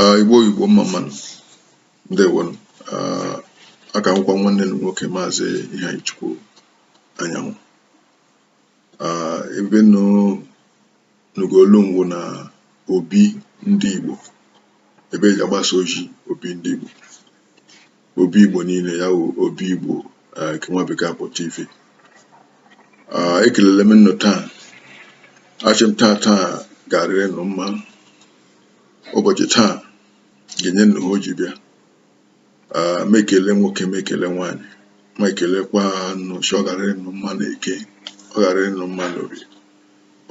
Ah, igbo igbo mma mma nụ ndewonụ Ah, aka m wụkwa nwanne nụ nwoke maazị Iheanyịchukwu Anyanwụ Ah, ebe nụ nụga olu m wụ na obi ndị igbo ebe eji agbasa ozi obi ndị igbo obi igbo niile ya wụ obi igbo eh, nke nwa bekee akpọ tv ah, ekelele m nnụ taa asị m taa taa ga-arịrị nụ mma ụbọchị taa ga-enye nnụ ihe o ji bịa ah, m ekele nwoke m ekele nwaanyị m ekelekwa nnụ sị ọ ga-arịrị nụ mma na eke ọ ga-arịrị nụ mma na orie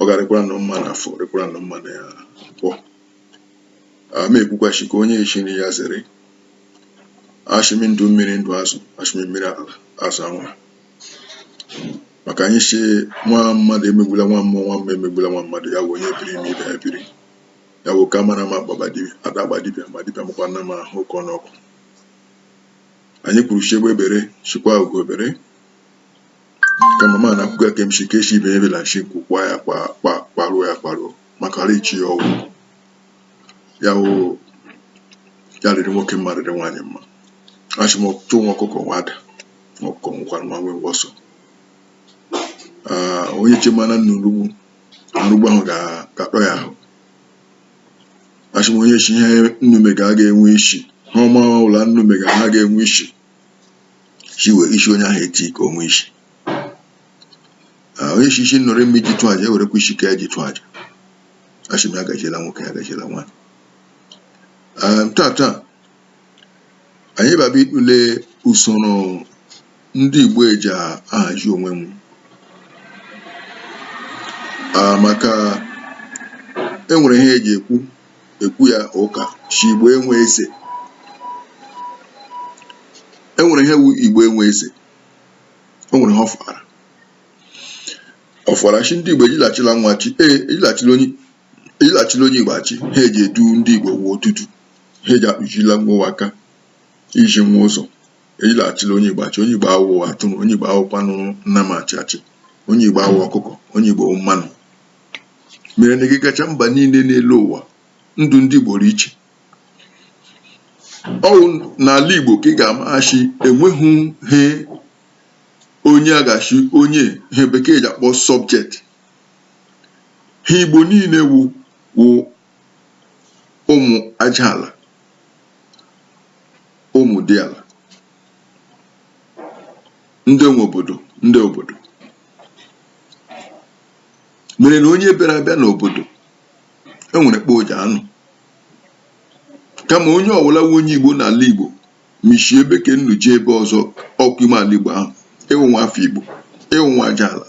ọ ga-arịkwara nụ mma na afọ rịkwara nụ mma na nkwọ a m ekwukwa sị nke onye echiri ya zere asị m ndụ mmiri ndụ azụ asị m mmiri ala azụ anwa maka anyị sị nwa mmadụ emegbula nwa mmụọ nwa mmụọ emegbula nwa mmadụ ya bụ onye biri ma ibe ya biri ya bụ ka mara ma gbaba dibịa ada agba dibịa ma dibịa makwa nna ma ahụ ụkọ n'ọkụ anyị kwuru sị egbe bere sịkwa ugo bere kama m na-ekwuga ka m sị nke sị ibe ebela m sị nku kwaa ya kwa kwa kwaruo ya kwaruo maka ala echi ya ọgwụ ya wụ ya rịrị nwoke mma rịrị nwaanyị mma asị m ọchụ nwa ọkụkọ nwe ada nwa ọkụkọ nwekwara nwa nwe ngwọsọ Ah, onye chemana nna orugbu arụgbu ahụ ga- ga-akpọ ya ahụ asị m onye sị ihe nnụ mega aga enwe isi ihe ọwụla nnụ mega ha ga-enwe isi sị were isi onye ahụ eti ka o nwee isi onye sị isi nnụ rị mma iji chụ aja ewerekwa isi nke ya ji chụ aja asị m ya gaziela nwoke ya gaziela nwaanyị taa taa anyị baba ịtụle usoro ndị Igbo eji ahazi onwe nwa maka enwere ihe eji ekwu ekwu ya ụka sị igbo enwe eze enwere ihe wụ igbo enwe eze o nwere ihe ọ fara ọ fara sị ndị igbo ejila achịla nwa achị ee ejila achịla onye ejila achịla onye igbo achị ha eji edu ndị igbo wụ otutu ha eji akpụchila nwa ụwa aka izi nwa ụzọ ejila achịla onye igbo achị onye igbo awụ atụrụ onye igbo awụkwanụ nnama achị achị onye igbo awụ ọkụkọ onye igbo wụ manụ mere na ị gacha mba niile n'elu ụwa ndụ ndị Igbo dị iche ọwụ n'ala Igbo ka ị ga-ama sị enweghị ihe onye aga sị onye ihe bekee ji akpọ sọbjekt ha Igbo niile wụ wụ ụmụ aja ala ụmụ diala ndị nwe obodo ndị obodo mere na onye bịara abịa n'obodo enwere kpa o ji anọ kama onye ọwụla wụ onye igbo n'ala igbo ma ishi ebe ke nnu jee ebe ọzọ ọ ka ime ala igbo ahụ ịwụ nwa afọ igbo ịwụ nwa aja ala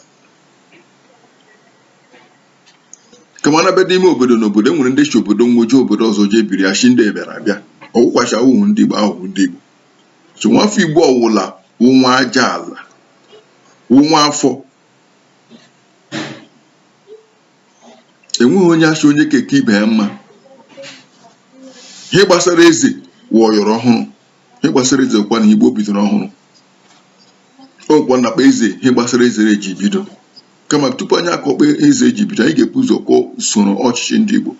kama na bịa n'ime obodo na obodo enwere ndị shi obodo nwo jee obodo ọzọ jee biri ashị ndị bịara abịa ọwụkwa shị awụhụ ndị igbo awụ ndị igbo so nwafọ igbo ọwụla wụ nwa aja ala wụ nwa afọ enweghị onye ashị onye ke a ka ibe ya mma ihe gbasara eze wọyọrọ ọhụrụ ihe gbasara eze kwa na igbo bidoro ọhụrụ ọkwa na kpa eze ihe gbasara eze eji bido kama tupu anyị akọọ kpa eze eji bido anyị ga-ebu ụzọ kọọ usoro ọchịchị ndị igbo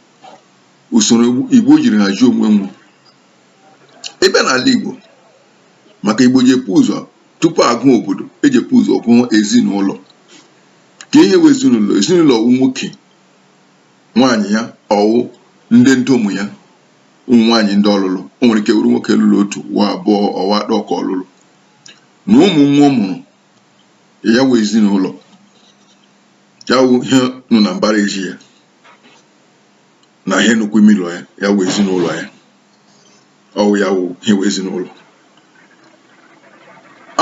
usoro igbo jiri hazie onwe nwo ebe n'ala igbo maka igbo ji epu ụzọ tupu agụ obodo eji epu ụzọ gụọ ezinụlọ ke ihe wụ ezinụlọ ezinụlọ wụ nwoke nwaanyị ya ọwụ ndị ndom ya ụmụ nwaanyị ndị ọ lụrụ o nwere ike wụrụ nwoke lụrụ otu ọwụ abụọ ọwụ atọ ka ọ lụrụ na ụmụ nwa ọ mụrụ ya wụ ezinụlọ ya wụ ihe nọ na mbara ezi ya na ihe nọkwu ime ụlọ ya ya wụ ezinụlọ ya ọwụ ya wụ ihe wụ ezinụlọ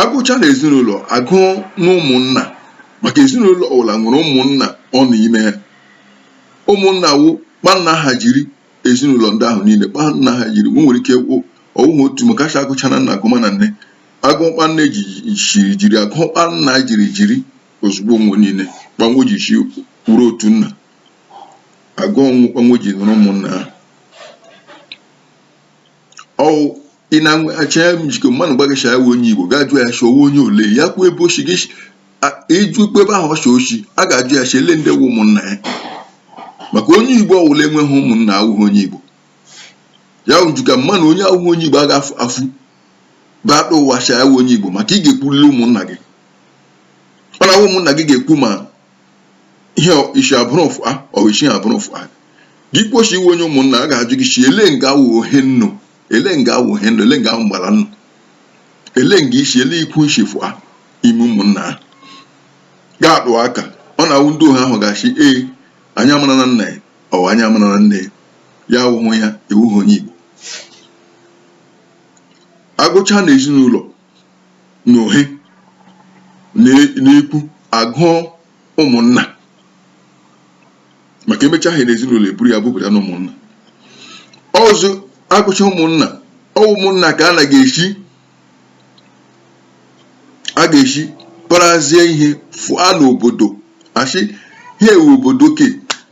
agụcha na ezinụlọ agụọ na ụmụnna maka ezinụlọ ọwụla nwere ụmụnna ọ nọ ime ya ụmụnna wụ kpa nna ha jiri ezinụlọ ndị ahụ niile kpa nna ha jiri nwo nwere ike kwụ ọwụghị otu maka ashị agụcha na nna agụma na nne agụọ kpa nne ji jiri jiri agụọ kpa nna jiri jiri ozugbo nwo niile kpa nwo ji shi wụrụ otu nna agụọ ọnụ kpa nwo ji wụrụ ụmụnna ha ọwụ ị na-achọ ya njikọ mmadụ gwa gị shị ya wụ onye igbo ga-ajụ ya shị ọwụ onye ole ya kwuo ebe o shi gị ịjụ ikpe ebe ahụ ọ shị o shi a ga-ajụ ya shị ele ndị wụ ụmụnna ya maka onye igbo ọwụla enweghị ụmụnna awụghị onye igbo ya wụ njikọ mmadụ onye awụghị onye igbo a ga-afụ afụ baakpa ụwa shị ya wụ onye igbo maka ị ga-ekwurịrị ụmụnna gị ọ na-awụ ụmụnna gị ga-ekwu ma ihe ishi abụrụ fụa or ishihi abụrụ fụa gị kwuo shị ịwụ onye ụmụnna a ga-ajụ gị shị ele nga awụ ohe nnu ele nga awụ ohe nnu ele nga awụ mgbara nnu ele nga ishi ele ikwu ishi fụa ime ụmụnna a ga-atụ aka ọ na-awụ ndị ohe ahụ ga-ashị ee anyị amara na nna ya or anyị amara na nne ya ya awụhụ ya ịwụghị onye Igbo agụcha na ezinụlọ n'ohe n'ikwu agụọ ụmụnna maka emecha ihe n'ezinụlọ eburu ya bupụta na ụmụnna ọzọ agụcha ụmụnna ọ wụ ụmụnna ka a na ga-esi a ga-esi parazie ihe fụa n'obodo asị ihe ewu obodo ke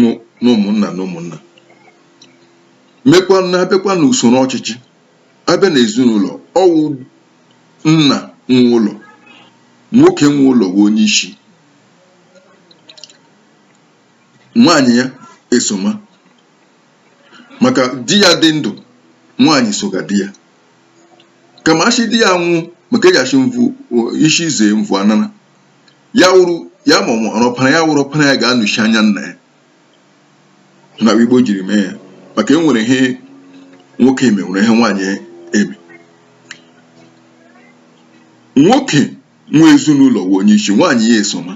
nụ n'ụmụnna n'ụmụnna mekwa na abịakwa na usoro ọchịchị abịa na ezinụlọ ọ wụ nna nwe ụlọ nwoke nwe ụlọ wụ onye isi nwaanyị ya esoma maka di ya dị ndụ nwaanyị soga di ya kama asị di ya nwụọ maka eji asị mvụ isi zee mvụ anara ya wụrụ ya mụrụ ọpara ya wụrụ ọpara ya ga-anọchi anya nna ya na igbo jiri mee ya maka e nwere ihe nwoke eme nwere ihe nwaanyị eme nwoke nwe ezinụlọ wụ onye isi nwaanyị ya esoma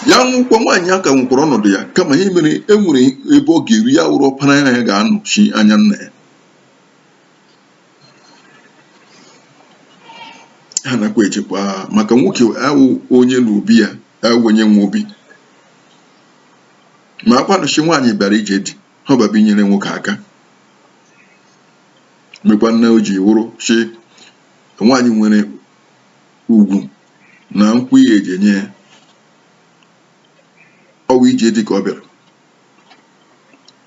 ya nwụkwa nwaanyị aka nwekwara ọnọdụ ya kama ihe mere e nwere ebe ọ ga-eru ya wụrụ ọpara ya ga-anọchi anya nna ya ha nakwa echekwa maka nwoke awụ onye na obi ya awụ onye nwe obi makwanụ sị nwaanyị bịara ije di ihe ọ bịara abịa inyere nwoke aka mekwana o ji wụrụ sị nwaanyị nwere ugwu na nkwụ ihe eji enye ya ọ wụ ije di ka ọ bịara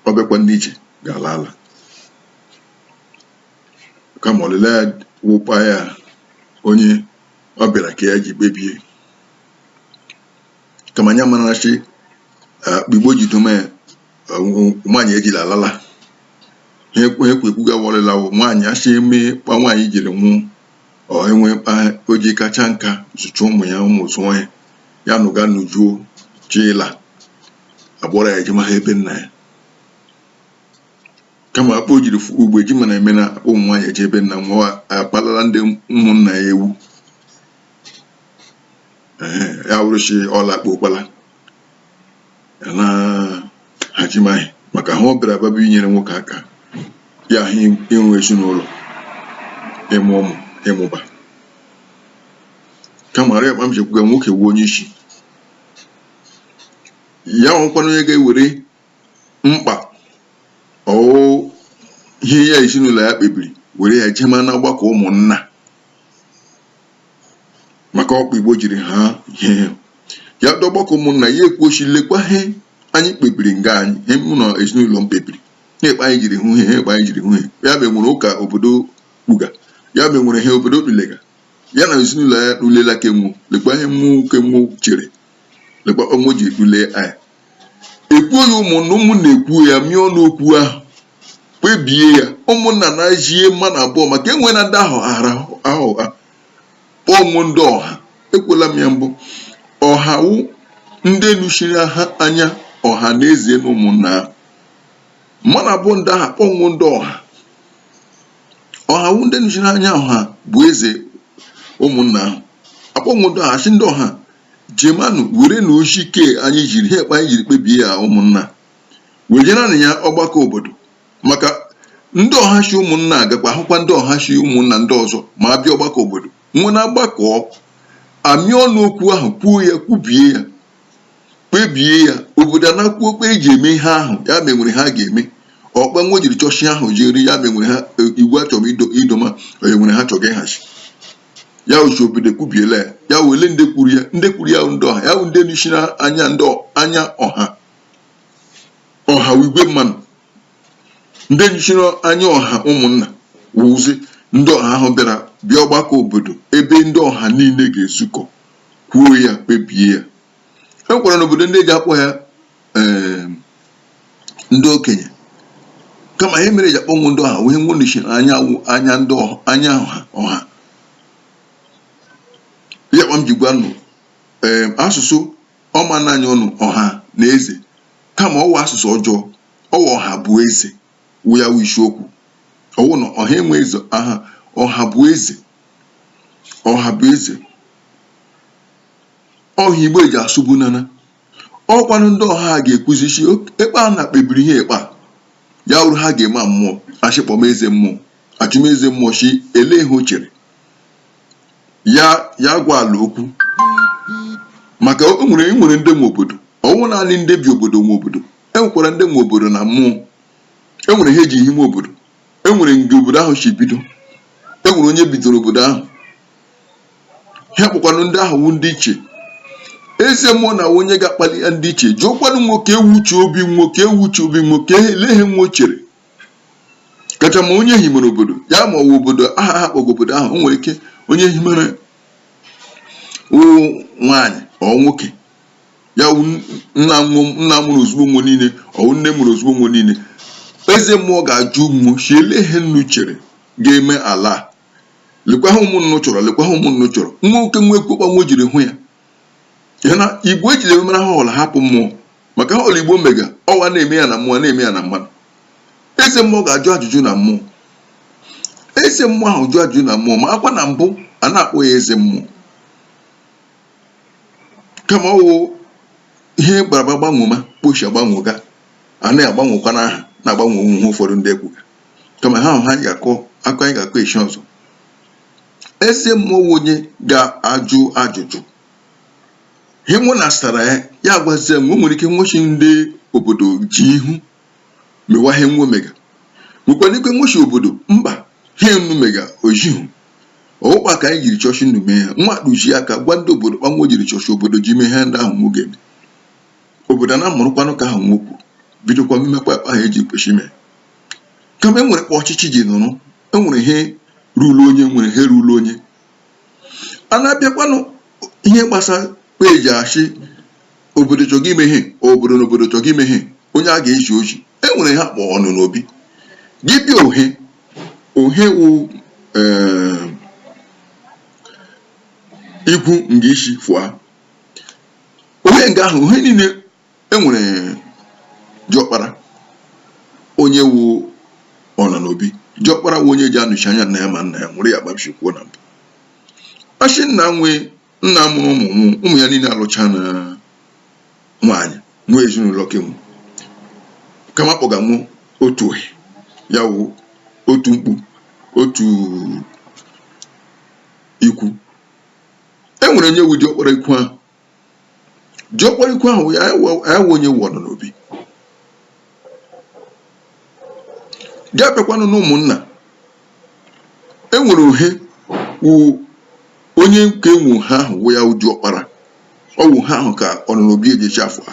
ọ bịakwa ndị ije ga-ala ala kama ọlịla ya wụ kpa ya onye ọ bịara nke ya ji kpebie kama anyị mara sị kpa igbo ji dome ya nwaanyị ejila ala ala ihe ekwe ekwe ekwuga ọlịla wụ nwaanyị asị eme kpa nwaanyị jiri nwụọ enwee kpa o ji kacha nka zụcha ụmụ ya ụmụ azụọ ya ya nụga nujuo chila akpọrọ ya ejema ha ebe nna ya kama kpa o jiri fụ- ugbu a eji mana eme na akpa ụmụ nwaanyị eje ebe nna nwa akpalala ndị ụmụnna ya ewu Ehe, ya wụrụ sị ọla akpa ụkpala ya na hajimaghị maka ihe ọ bịara abịa inyere nwoke aka ya wụ inwe ezinụlọ ịmụ ụmụ ịmụba kama arịa kpa m ji kwuga nwoke wụ onye isi ya nwekwana onye ga-ewere mkpa ọ wụ ihe ya ezinụlọ ya kpebiri were ya jema na ọgbakọ ụmụnna maka ọ kpa Igbo jiri ha ihe ya dọ ọgbakọ ụmụnna ya ekwuo sị lekwa ihe anyị kpebiri nga anyị ihe mụ na ezinụlọ m kpebiri na kpa anyị jiri hụ ihe a kpa anyị jiri hụ ihe ya ma enwere ụka obodo kpuga ya ma enwere ihe obodo tulega ya na ezinụlọ ya tulela ke nwu lekwa ihe mụ ke mụ chere lekwa ọmụ ji tule anyị ekwuo ya ụmụnna ụmụnna ekwuo ya mịa ọnụ okwu ahụ kpebie ya ụmụnna na-ajie mmadụ abụọ maka enwe na ndị ahụ ara ahụ ha kpọọ nwe ndị ọha ekwela m ya mbụ ọha wụ ndị nọchiri ha anya ọha na eze na ụmụnna ahụ mmadụ abụọ ndị ahụ akpọ nwe ndị ọha ọha wụ ndị nọchiri anya ọha bụ eze ụmụnna ahụ akpọ nwe ndị ọha sị ndị ọha Jemanụ, werenụ ozi ke anyị jiri ihe kpa anyị jiri kpebie ya ụmụnna wejeranụ ya ọgbakọ obodo maka ndị ọha si ụmụnna agakwa ahụkwa ndị ọha si ụmụnna ndị ọzọ ma abịa ọgbakọ obodo nwe na-agbakọ amịa ọnụ okwu ahụ kwuo ya kwubie ya kpebie ya obodo ana kwuo kpa eji eme ihe ahụ ya ma enwere ihe a ga-eme ọ kpa nwe jiri chọọ sị ahụ jiri ya ma enwere ha e, iwu achọrọ idoma onye nwere ihe a chọga ịhazi ya wụ sị obodo ekwubiela ya ya wụ ele ndị kwuru ya ndị kwuru ya ndị ọha ya wụ ndị nọchiri anya ndị ọ- anya ọha ọha wụ igwe mmanụ ndị nọchiri anya ọha ụmụnna wụzi ndị ọha ahụ bịara bịa ọgbakọ obodo ebe ndị ọha niile ga-ezukọ kwuo ya kpebie ya e nwekwara n'obodo ndị eji akpọ ya ee ndị okenye kama ihe mere eji akpọ nwe ndị ọha wụ ihe nwe nọchi anya anya ndị anya ọha ya kpa m ji gwa nụ ee asụsụ ọma naanị ọnụ ọha na eze kama ọ wụ asụsụ ọjọọ ọ wụ ọha bụ eze wụ ya wụ isiokwu ọ wụ na ọha enwe eze aha ọha bụ eze ọha bụ eze ọha Igbo eji asụbu nana ọ kwanụ ndị ọha a ga-ekwuzi sị kpa a na kpebiri ihe kpa ya wụrụ ihe a ga-eme mmụọ a sị kpọma eze mmụọ a chọma eze mmụọ sị ele ihe o chere ya ya gwa ala okwu maka o nwere e nwere ndị nwe obodo ọ wụ naanị ndị bi obodo nwe obodo e nwekwara ndị nwe obodo na mmụọ e nwere ihe eji hime obodo e nwere nga obodo ahụ si bido e nwere onye bidoro obodo ahụ ha kpọkwanụ ndị ahụ wụ ndị ichie eze mmụọ na wụ onye ga-akpali ya ndị ichie jụọkwanụ nwo kee wụ uche obi nwo kee wụ uche obi nwo ke elee he nwo chere kacha mma onye himere obodo ya ma ọ wụ obodo aha ha kpọgo obodo ahụ o nwere ike onye himere wụ nwaanyị ọ nwoke ya wụ nna nwa- nna mụrụ ozugbo nwo niile ọ wụ nne mụrụ ozugbo nwo niile eze mmụọ ga-ajụ nwo sị elee he nnu chere ga-eme ala a lekwa he ụmụ nnu chọrọ lekwa he ụmụ nnu chọrọ nwo ke nwo ekwu kpa nwo jiri hụ ya ya na igbo ejighị eme he ọla hapụ mmụọ maka he ọla igbo mega ọ wụ a na-eme ya na mmụọ na-eme ya na mmadụ eze mmụọ ga-ajụ ajụjụ na mmụọ eze mmụọ ahụ jụ ajụjụ na mmụọ makwa na mbụ a na-akpọ ya eze mmụọ kama ọ wụ ihe bịara gbanwoma kpa o shi agbanwoga a na-agbanwekwa n'aha na-agbanwe onwe ha ụfọdụ ndị ekwuga kama he ahụ he anyị ga-akọ anyị ga-akọ echi ọzọ eze mmụọ wụ onye ga-ajụ ajụjụ ihe mmụọ na asara ya ya gwazie nwo o nwere ike nwo shi ndị obodo je ihu mewa ihe nwo mega nwekwana ike nwo shi obodo mba he nnu mega ọ jihu ọ wụ kpa ka anyị jiri chọọ shi nnu mee ha nwo akpụji aka gwa ndị obodo kpa nwo jiri chọọ shi obodo ji mee he ndị ahụ nwo ge obodo na mụrụkwanụ ka ahụ nwo kwu bidokwa mmekwa kpa ahụ eji kwesị ime kama enwere kpa ọchịchị ji nọrọ enwere ihe ruru onye nwere ihe ruru onye a na-abịakwanụ ihe gbasara kpa eji achị obodo chọga ime ihe obodo na obodo chọga ime ihe onye a ga-eji oji enwere he a kpọ ọnọ n'obi gị bịa ohe ohe wụ ee, ikwu nga i si fụa Ohe nga ahụ, ohe niile e nwere diọkpara onye wụ ọnọ n'obi diọkpara wụ onye ji anụchi anya nna ya ma nna ya nwụrụ ya kpa m shi kwuo na mbụ a shị nna nwe nna mụrụ ụmụ nwo ụmụ ya niile alụcha na nwaanyị nwee ezinụlọ ke nwo kama a kpọga nwo otu ohe ya wụ otu mkpu otu ikwu e nwere onye wu diọkpara ikwu ahụ diọkpara ikwu ahụ ya wu onye wu ọnọ n'obi gị abịakwanụ na ụmụnna e nwere ohe wu onye nke nwo ohe ahụ wụ ya wu diọkpara ọ wụ ohe ahụ ka ọnọ n'obi eje shi afụa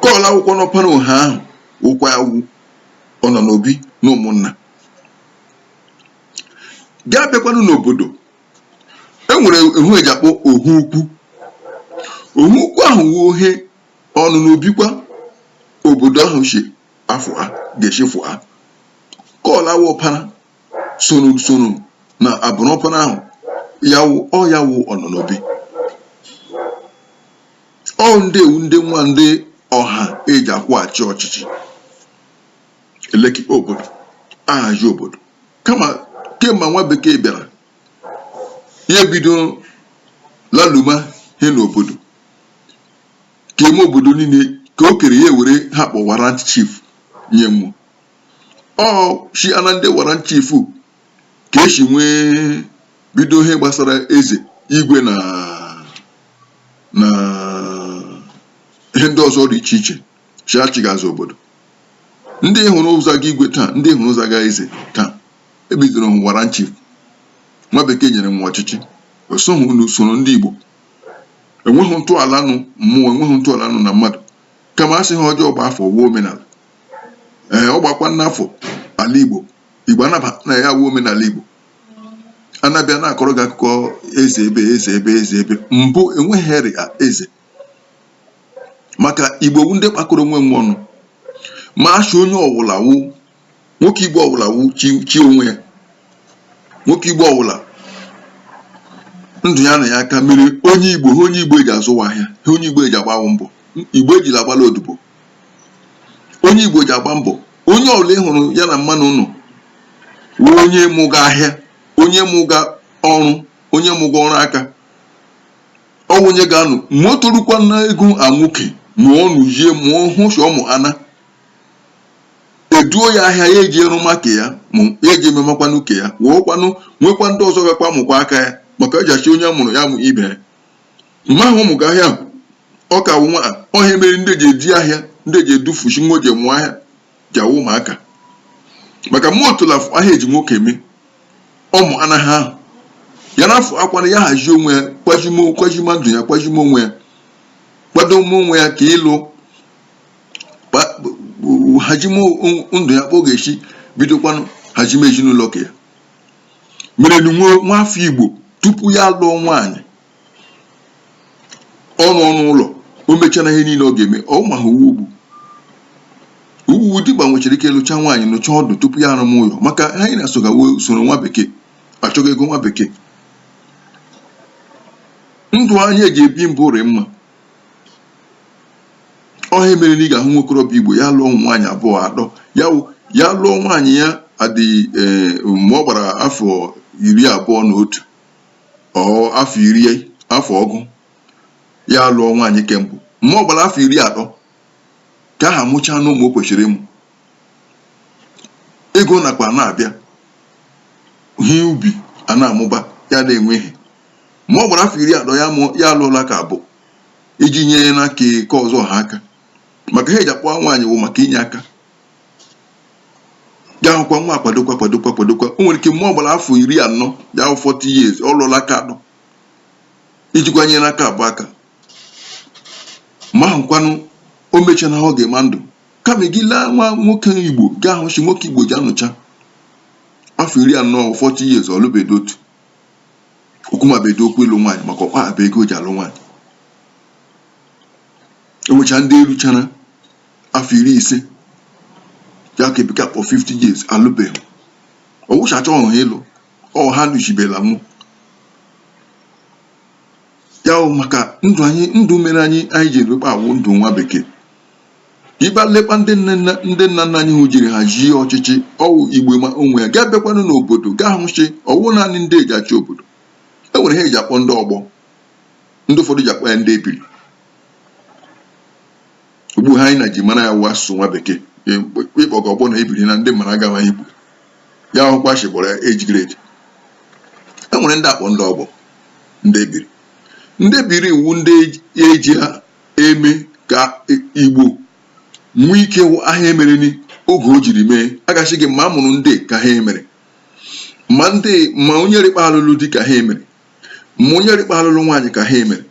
ke ọla wụkwanụ ọpara ohe ahụ wụkwa ya wu ọnọ n'obi na ụmụnna gaa bịakwanụ n'obodo e nwere ehu eji akpọ ohu ukwu ohu ukwu ahụ wụ ohe ọnọ n'obikwa obodo ahụ si afọ ha ga-echefu ha kọl awụ ọpara soro soro na abụrụ ọpara ahụ ya wụ ọ ya wụ ọnọ n'obi ọ ndị wụ ndị nwa ndị ọha ejikwu achị ọchịchị elekọ obodo ahazi obodo kama kemgbe nwa bekee bịara ya ebido laluma ihe n'obodo keme obodo niile ke o kere ya were ha kpọ warrant chief nye wo o si na ndị warrant chief ka esi wee bido ihe gbasara eze igwe na na ihe ndị ọzọ dị iche iche si achịgazi obodo ndị ị hụrụ zaga igwe taa ndị ị hụrụ zaga eze taa ebidoro warrant chief nwa bekee nyere wo ọchịchị o soghị n'usoro ndị Igbo enweghị ntọala na mmụọ enweghị ntọala nụ na mmadụ kama asị he ọjọọ gbaa afọ wụọ omenala ee ọ gbakwana afọ ala Igbo Igbo anabana ya wụọ omenala Igbo a na-abịa na-akọrọ gị akụkọ eze ebe eze ebe eze ebe mbụ enweghị he rị eze maka igbo wụ ndị kpakọrọ onwe wo ọnụ ma a sị onye ọwụla wụ nwoke igbo ọwụla wụ chi onwe ya nwoke igbo ọwụla ndụ ya nọ ya aka mere onye igbo he onye igbo ji azụwa ahịa he onye igbo ji agbawa mbọ igbo ejila agbala odibo onye igbo ji agba mbọ onye ọbụla ị hụrụ ya na mmanụ nọ wụ onye mụga ahịa onye mụga ọrụ onye mụga ọrụ aka ọ wụ onye ga-anọ ma o torukwa n'ogo nwoke ma ọ nụ yie ma ọ hụ sọ mụ ana eduo ya ahịa ya eji eru maka ya ma ya eji ememakwanụ nke ya wụọkwanụ nwekwa ndị ọzọ gakwa mụkwa aka ya maka eji achị onye mụrụ ya mụ ibe ya mma ahụ ọ mụga ahịa ọ ka nwa ọ he a mere ndị ji eje ahịa ndị ji edufuchi nwa ji mụọ ahịa ji awụ ụmụaka maka mụ otula afọ ihe eji nwoke eme ụmụ anaghị ahụ ya na afọ akwana ya hazie onwe ya kwajimo kwajima ndụ ya kwajima onwe ya kwadoma onwe ya ka ịlụ hajime ndụ ya ka ọ ga-esi bidokwanụ hajime ezinụlọ ke ya mere nwa afọ igbo tupu ya lụọ nwaanyị ọnụ ọnụ ụlọ o mechara ihe niile ọ ga-eme ọ ma ha uwe ugwu uwu dimkpa nwechara ike lụcha nwaanyị nọcha ọdụ tupu ya arụma ụlọ maka anyị na-asoga usoro nwa bekee achọga ego nwa bekee ndụ anyị eji ebi mbụ rị mma ọ ihe a mere na ị ga-ahụ nwokorobịa igbo ya lụọ nwaanyị abụọ atọ ya ya lụọ nwaanyị ya adị eh, mgbe ọ gbara afọ iri abụọ na otu ọ afọ iri afọ ọgụ ya lụọ nwaanyị ke mbụ mgbe ọ gbara afọ iri atọ ka ha mụchaa na ụmụ o kwesịrị ịmụ ego nakwa na-abịa ihe ubi a na-amụba ya na-enwe ihe ma ọ gbara afọ iri atọ ya alụọla ka abụọ iji nye na ka ke ọzọ ha aka maka ha eji akpọ nwaanyị wụ maka inye aka ya hụkwa nwa kwadokwa o nwere ike mgbe ọ gbara afọ iri anọ ya wụ 40 years ọ lụọla ka atọ ijikwa nye n'aka abụọ aka ma ahụkwanụ o mechana ihe ọ ga-eme na ndụ kama gị laa nwa nwoke igbo gị ahụ sị nwoke igbo ji anọcha afọ iri anọ 40 years ọ lụbedo otu o kwumabedo okwu ịlụ nwaanyị maka ọ ka akpa ego o ji alụ nwaanyị e nwecha ndị eruchara afọ iri ise ya ka bekee kpọ 50 years alụbeghị ọ wụcha achọghị ha ịlụ ọ ha nụchibela mụ ya wụ maka ndụ anyị ndụ mere anyị anyị ji erukpa awụ ndụ nwa bekee ị bịa lekwa ndị nne nna ndị nna nna anyị hụ jiri hazie ọchịchị ọ wụ igbo ma onwe ya gị abịakwanụ n'obodo gị ahụ sị ọ wụ naanị ndị eji achị obodo e nwere ha eji akpọ ndị ọgbọ ndị ụfọdụ ji akpọ ya ndị ebiri Ugbu ha anyị na ji mara ya wụ asụsụ nwa bekee ị kpọga ọgbọ na ebiri na ndị mara agawa Igbo ya wụkwa sị kpọrọ ya age grade e nwere ndị akpọ ndị ọgbọ ndị ebiri ndị ebiri wụ ndị eji ha eme ka Igbo nwee ike wụ ihe a emere ni oge o jiri mee a ga-asị gị ma a mụrụ ndị ka ha emere ma ndị ma onye rịkpa alụlụ di ka ha emere ma onye rịkpa alụlụ nwaanyị ka ha emere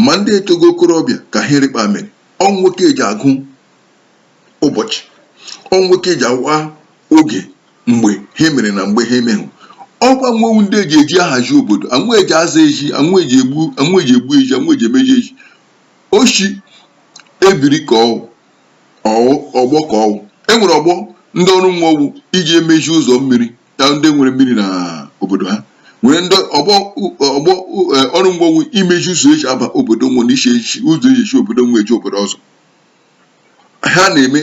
ma ndị etogo okorobịa ka ha rịkpa mere ọ nwo ka eji agụ ụbọchị ọ nwo ka eji awa oge mgbe ha mere na mgbe ha emeghị ọ kwa nwo wụ ndị eji eji ahazi obodo ọ nwo eji aza ezi ọ nwo eji egbu ọ nwo eji egbu ezi ọ nwo eji emezi ezi ọ sị ebiri ka ọ wụ ọgbọ ka ọ wụ e nwere ọgbọ ndị ọrụ nwo wụ iji emezi ụzọ mmiri ndị nwere mmiri na obodo ha nwere ndị ọgbọ ọgbọ e, ọrụ nwo wụ imeji ụzọ eji aba obodo nwo na iche echi ụzọ eji esi obodo nwo eje obodo ọzọ ha na-eme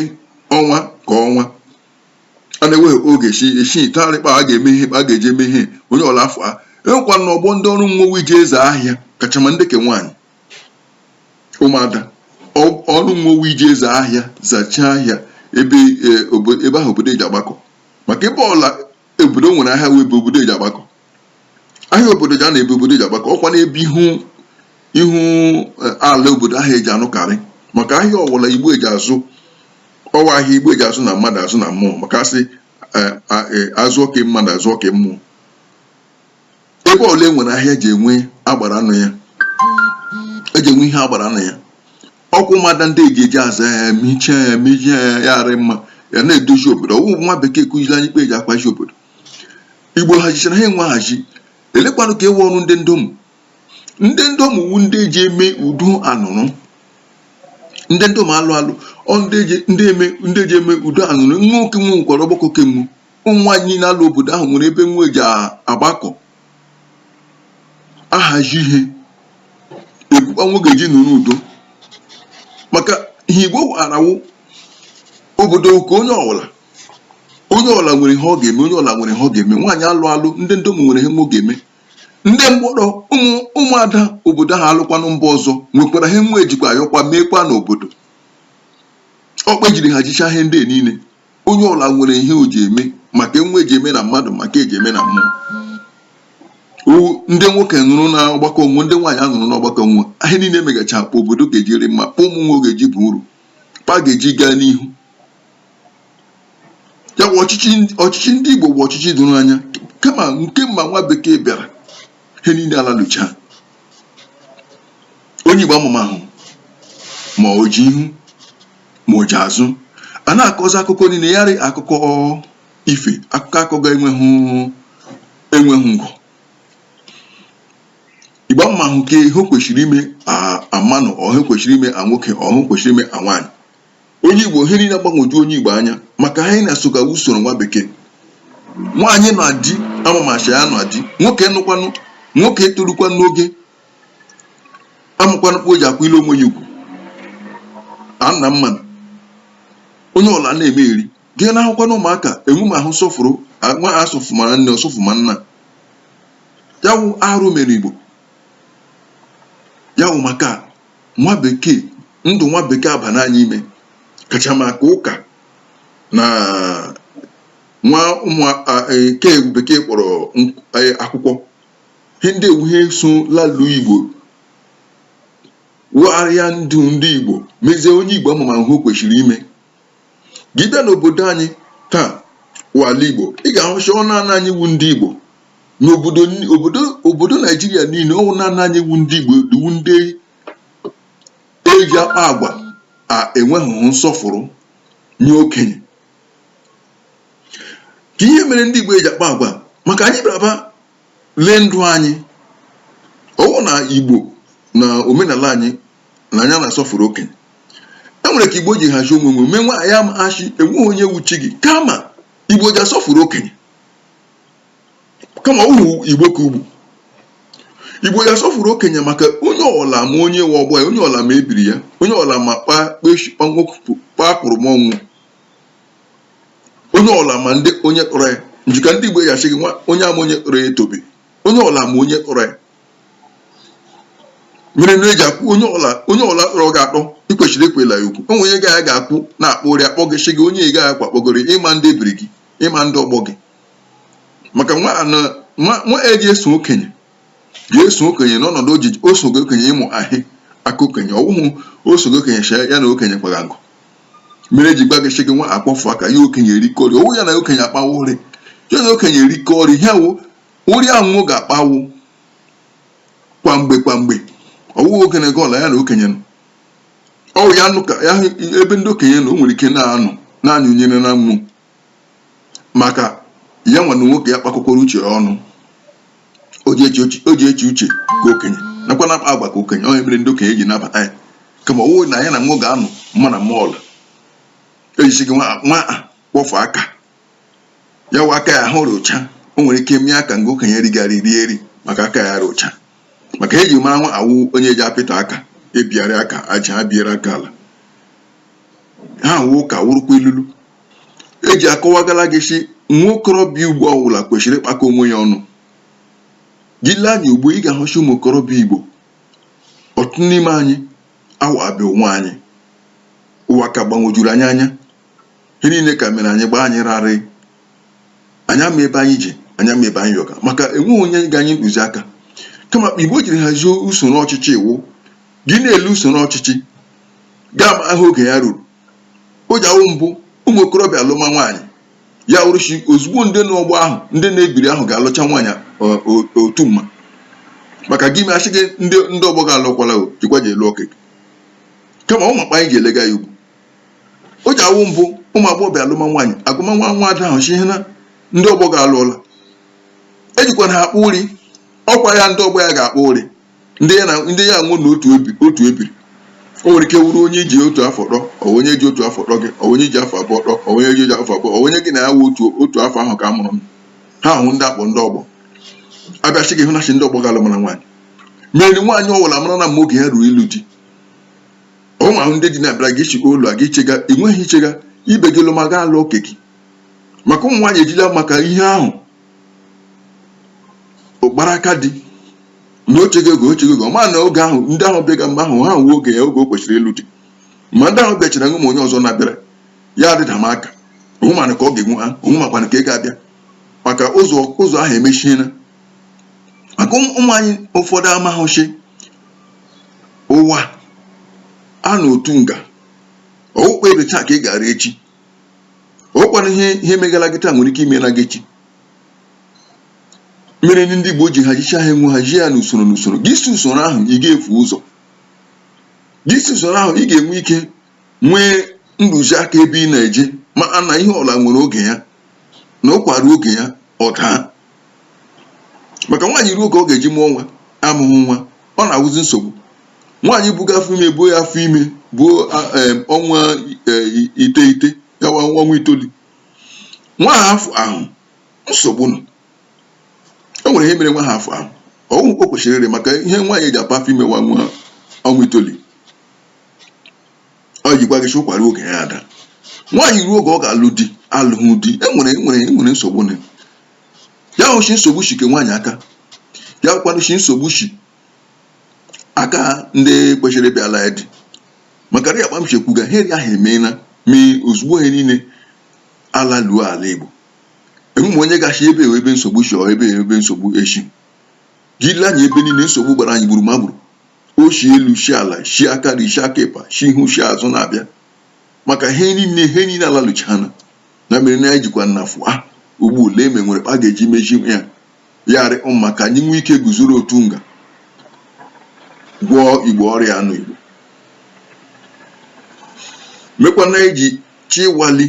ọnwa ka ọnwa a na-enweghị oge chi echi tarị kpa a ga-eme ihe a ga-eji eme ihe onye ọla afọ a enwekwa na ọgbọ ndị ọrụ nwo wụ iji aza ahịa kachama ndị ke nwaanyị ụmụada ọrụ nwo wụ iji aza ahịa zachaa ahịa ebe e, obo- ebe ahụ obodo eji agbakọ maka ebe ọla obodo nwere ahịa wụ ebe obodo eji agbakọ ahịa obodo ji a na ebe obodo eji agbakọ ọkwa n'ebe ihu ihu eh, ala obodo ahụ eji anụkarị maka ahịa ọwụla igbo eji azụ ọ wụ ahịa igbo eji azụ na mmadụ azụ na mmụọ maka asị eh, a- eh, azụ oke mmadụ azụ oke mmụọ ebe ọla e nwere ahịa eji enwe agbara nụ ya eji enwe ihe agbara nụ ya ọkwa ụmụada ndị eji eji aza ya mejie ya mejie ya ya arị mma ya na-edozi obodo ọwụ nwa bekee kụziri anyị kpa eji ahazi obodo igbo hazichara ihe nwo ahazi elekwanụ ka ewe ọrụ ndị ndom ndị ndom wụ ndị eji eme udo anụrụ ndị ndom alụ alụ wụ ndị eji eme udo anụrụ nwoke nwekwara ọgbakọ kemgbe ụmụ nwaanyị na-alụ obodo ahụ nwere ebe nwo eji agbakọ ahazi ihe ekwu kpa nwo ga-eji nụrụ udo maka ihe igbo arawo obodo nke onye ọbụla onye ọbụla nwere ihe ọ ga-eme onye ọbụla nwere ihe ọ ga-eme nwaanyị alụ alụ ndị ndom nwere ihe nwo ga-eme ndị mgbọrọ ụmụ ụmụada obodo ahụ alụkwanụ mba ọzọ nwekwara ihe nwo ejikwa ayọkwa meekwa n'obodo ọ kpa ejiri hazicha ihe ndị a niile onye ọla nwere ihe o ji eme ma ke nwo eji eme na mmadụ ma ke eji eme na mmụọ ndị nwoke nụrụ na ọgbakọ nwo ndị nwaanyị anụrụ n'ọgbakọ nwo ihe niile megacha kpa obodo ga-eji rị mma kpa ụmụ nwo ga-eji baa uru kpa a ga-eji gaa n'ihu ya bụ ọchịchị ndị Igbo bụ ọchịchị doro anya kama nke mma nwa bekee bịara ihe niile alalụcha onye Igbo amamahụ ma o ji ihu ma o ji azụ a na-akọzi akụkọ niile ya arị akụkọ ife akụkọ akọ ga-enweghị enweghị ngụ igbo amamahụ ka ihe kwesịrị ime amanụ ọhụ kwesịrị ime a nwoke ọhụ kwesịrị ime a nwaanyị onye igbo ihe niile agbagwoju onye igbo anya maka ha na-esoga usoro nwa bekee nwaanyị nụ di amama sị ya nụ di nwoke nụkwanụ nwoke torukwa n'oge amụkwana mkpa o ji akwụ ile onwe ya ugwu na nna mmanụ onye ọla na-eme eri gị na ahụkwa na ụmụaka enwemahụ nsọfụrụ nwa asọfụma nne ọ sọfụma nna ya wụ arụ mere igbo ya wụ maka nwa bekee ndụ nwa bekee abana anyị ime kacha maka ụka na nwa ụmụ e, ke bekee kpọrọ akwụkwọ ihe ndị a wụ ihe so lalu igbo wụgharịa ndụ ndị igbo mezie onye igbo amama ihe o kwesịrị ime gị bịa n'obodo anyị taa wụ ala igbo ị ga-ahụ sị ọ naanị anyị wụ ndị igbo n'obodo ni- obodo obodo naijiria niile ọ wụ naanị anyị wụ ndị igbo wụ ndị eji akpa agwa a enweghị nsọfụrụ nye okenye ka ihe mere ndị Igbo eji akpa agwa maka anyị bịara ba lee ndụ anyị ọ wụ na Igbo na omenala anyị na anyị na-asọfụrụ okenye e nwere ka Igbo ji hazie onwe onwe mee anyị ama sị enweghị onye wụ chi gị kama Igbo ji asọfụrụ okenye kama ọ wụhụ Igbo ke ugbu Igbo ji asọfụrụ okenye maka onye ọla ma onye wụ ọgbọ ya onye ọla ma ebiri ya onye ọla ma kpaa kpaa kpụrụ m ọnwụ onye ọla ma ndị onye tọrọ ya nji ka ndị Igbo ya asị gị nwa onye ama onye tọrọ ya etobe onye ọla ma onye tọrọ ya mere na eji akwụ onye ọla onye ọla tọrọ gị atọ ị kwesịrị ekwela ya okwu o nwe onye gị na ya ga-akwụ na-akpa ụrị akpọ gị sị gị onye ị gaghị akwa kpọgoro ịma ndị ebiri gị ịma ndị ọgbọ gị maka nwa eji eso okenye ya eso okenye n'ọnọdụ ojiji o sogo okenye ịmụ ahị aka okenye ọ wụhụ o sogo okenye chee ya na okenye kwara ngụ mere eji gwa gị sị gị nwa kwọfụ aka ya okenye erikọrị ọ wụ ya na okenye akpawa ụrị ya na okenye erikọrị ihe wụ ụrị ahụ ga-akpawụ kwa mgbe kwa mgbe ọ wụghị okenye gị ọla ya na okenye nọ ọ wụ ya nọ ka ya ebe ndị okenye nọ o nwere ike na-anụ na-anyụnyere na mmụọ maka ya nwa na nwoke ya kpakọkwara uche ya ọnụ o ji eche uche o ji eche uche ka okenye nakwa na-akpa agwa ka okenye onye mere ndị okenye ji nabata ya kama ọ wụrụ na ya na nwa ga-anọ mma na mọl eji sị gị nwa nwa a kwọfụ aka ya wụ aka ya ahụ rị ọcha o nwere ike mie aka nga okenye righarị rie eri maka aka ya rị ọcha maka eji mara nwa awụ onye ji apịtọ aka ebigharị aka aja ha biere aka ala ha wụ ụka wụrụkwa ilulu eji akọwagala gị sị nwa okorobịa igbo ọwụla kwesịrị ịkpakọ onwe ya ọnụ gị lee anya ugbo ị ga-ahụ sị ụmụ okorobịa igbo ọtụtụ n'ime anyị awa abịa onwe anyị ụwa ka gbagwojuru anyị anya ihe niile ka mere anyị gbaa anyị gharịị anyị ama ebe anyị ji anyị ama ebe anyị yọga maka enweghị onye ga anyị ntụziaka kama akpa igbo jiri hazie usoro ọchịchị iwu gị na-ele usoro ọchịchị ga-ama ihe oge ya ruru o ji awụ mbụ ụmụ okorobịa alụma nwaanyị ya wụrụ shi ozugbo ndị n'ọgbọ ahụ ndị n'ebiri ahụ ga-alụcha nwaanyị otu mma maka gị mechi gị ndị ndị ọgbọ gị alụkwala o jikwa je lụọ oke gị kama ọ wụ akpa anyị ji elega ya ugbo o ji awụ mbụ ụmụ agbọghọbịa alụma nwaanyị agwama nwa nwa ada ahụ shi na ndị ọgbọ gị alụọla ejikwana ha akpa ụri ọkwa ya ndị ọgbọ ya ga-akpa ụri ndị ya na ndị ya wụ na otu ebi otu ebiri o nwere ike wụrụ onye i ji otu afọ tọ ọ bụ onye ji otu afọ tọ gị ọ bụ onye i ji afọ abụọ tọ ọ bụ onye ji afọ abụọ ọ bụ onye gị na ya wụ otu otu afọ ahụ ka a mụrụ m ha wụ ndị a kpọ ndị ọgbọ a bịa shi gị hụna shi ndị ọgbọ gị alụmara nwaanyị mere nwaanyị ọwụla mara na mgbe oge ya ruru ịlụ di ọ ma ahụ ndị di na-abịara gị chịkwa ụlọ a gị chega ị nweghị ihe ị chega ibe gị lụma gaa lụọ oke gị maka ụmụ nwaanyị ejila maka ihe ahụ ọ kpara aka di na ọ chega oge ọ chega oge ọ ma na oge ahụ ndị ahụ bịaga mgbe ahụ ha nwe oge ya oge o kwesịrị ịlụ di ma ndị ahụ bịachara nwe ma onye ọzọ na-abịara ya di da m aka onwe mana ka ọ ga-enwe ha onwe makwana ka ị ga-abịa maka ụzọ ụzọ ahụ emechiela maka ụmụ nwaanyị ụfọdụ amaghị shi ụwa a anọ otu nga ọ wụ akpa ebe taa ka ị gara echi ọ kwanụ ihe ihe megala gị taa nwere ike ime na gị echi mere ndị Igbo ji hazicha ihe ha nwe hazie ya n'usoro n'usoro gị si usoro ahụ ị ga-efu ụzọ gị si usoro ahụ ị ga-enwe ike nwee ntụziaka ebe ị na-eje maa na ihe ọla nwere oge ya na ụkwa ruo oge ya ọ daa maka nwaanyị ruo ka ọ ga-eji mụọ nwa amụghị nwa ọ na-awụzi nsogbu nwaanyị buga afọ ime buo ya afọ ime buo ọnwa e, iteghete gawa ọnwa itoolu nwa ahụ afụahụ nsogbu nọ o nwere ihe mere nwa ahụ afụahụ ọnwa o kwesịrị maka ihe nwaanyị ji apa afọ ime nwa nwa ọnwa itoolu o jikwa shi ụkwa ruo oge ya adaa nwaanyị ruo oge ọ ga-alụ di alụghị di enwere enwere enwere nsogbu nọ ya wụ shi nsogbu shi ke nwaanyị aka ya kwanụ shi nsogbu shi aka ndị kwesịrị ịbịara ya di maka na ya akpa m shi ekwuga heri ahụ emeela mee ozugbo ihe niile ala luo ala igbo enweme onye ga-ashi ebe ebe nsogbu shi ọ ebe ebe nsogbu eshi gị lee anya ebe niile nsogbu gbara anyị gburu ma gburu o shi elu shi ala shi aka nri shi aka ịkpa shi ihu shi azụ na-abịa maka ihe niile ihe niile alaluchana na mere na anyị jikwa nnafu a ugbu lee ma e nwere kpa a ga-eji mejie ya ya rị mma ka anyị nwee ike guzoro otu nga gwọọ igbo ọrịa anụ igbo mekwana eji chi wali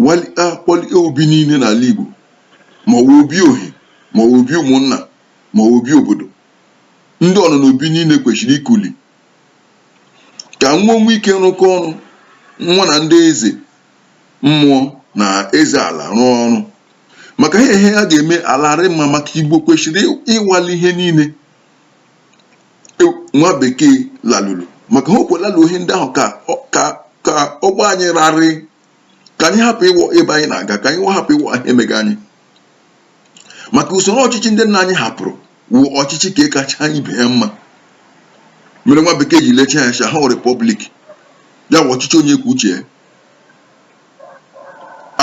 wali akpọli obi niile n'ala igbo ma ọ bụ obi ohi ma ọ bụ obi ụmụnna ma ọ bụ obi obodo ndị nọ n'obi niile kwesịrị ikuli ka nwa nwee ike rụkọ ọrụ nwa na ndị eze mmụọ na eze ala rụọ ọrụ maka ihe ihe ha ga-eme ala rị mma maka igbo kwesịrị ịwali ihe niile nwa bekee lalulu maka ha okwelalu ihe ndị ahụ ka ọ gba anyị rarị ka anyị hapụ ịwọ ebe anyị na-aga ka anyị hapụ ịwọ ihe mega anyị maka usoro ọchịchị ndị nna anyị hapụrụ wụ ọchịchị ka kacha ibe ya mma mere nwa bekee ji lecha ya ha republic ya wụ ọchịchị onye kwuo uche ya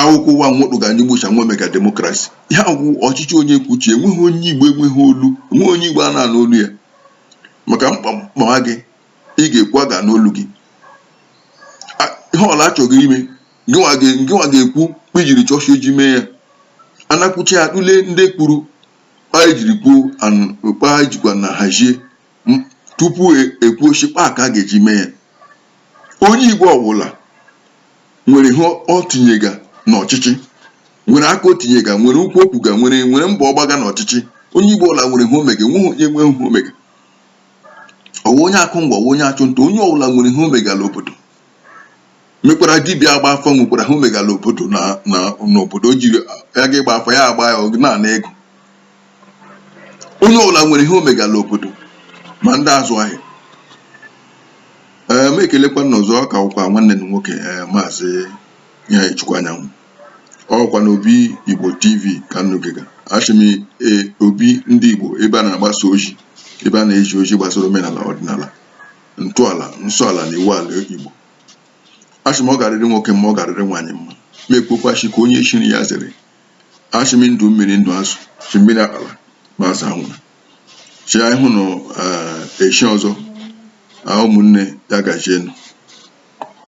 akwụkwọ ụwa nwokpụ ga n'igbocha nwe mega democracy ya wụ ọchịchị onye kwuo uche enweghị onye igbo enweghị olu enweghị onye igbo a na-anụ olu ya maka mkpa mkpa gị ị ga-ekwu aga n'olu gị ihe ọla achọghị ime ngịnwa ga- ngịnwa ga-ekwu kpa i jiri chọọ shị e ji mee ya a na-ekwucha ya tụlee ndị kwuru kpa e jiri kwuo an- kpa e jikwa na hazie m- tupu e- e kwuo shi kpa ka a ga-eji mee ya onye igbo ọbụla nwere ihe o tinyega n'ọchịchị nwere aka o tinyega nwere okwu o kwuga nwere nwere mbọ ọ gbaga n'ọchịchị onye igbo ọbụla nwere ihe o mega enweghị onye enweghị ihe o mega ọ wụ onye akụ ngwọ ọ wụ onye achụ nta onye ọbụla nwere ihe o mega n'obodo mekwara dibịa agba afa nwekwara ihe o megala obodo na na n'obodo o jiri ya ga ịgba afa ya agba ya ọ na-ana ego onye ọbụla nwere ihe o megala obodo ma ndị azụ ahịa ee m ekelekwa unu ọzọ ka wụkwa nwanne unu nwoke ee maazị ihechukwu anyanwụ ọ wụkwa na obi igbo tv ka unu gega asị m ee obi ndị igbo ebe a na-agbasa ozi ebe a na-ezi ozi gbasara omenala ọdịnala ntọala nsọala na iwu ala igbo asị m ọ garịrị nwoke mma ọ garịrị nwaanyị mma ma e kpokwasị ka onye shiri ya zere asị m ndụ mmiri ndụ azụ si mmiri akpala ma azụ anwụla si anyị hụ na eh, echi ọzọ ah, ụmụnne ya gajienụ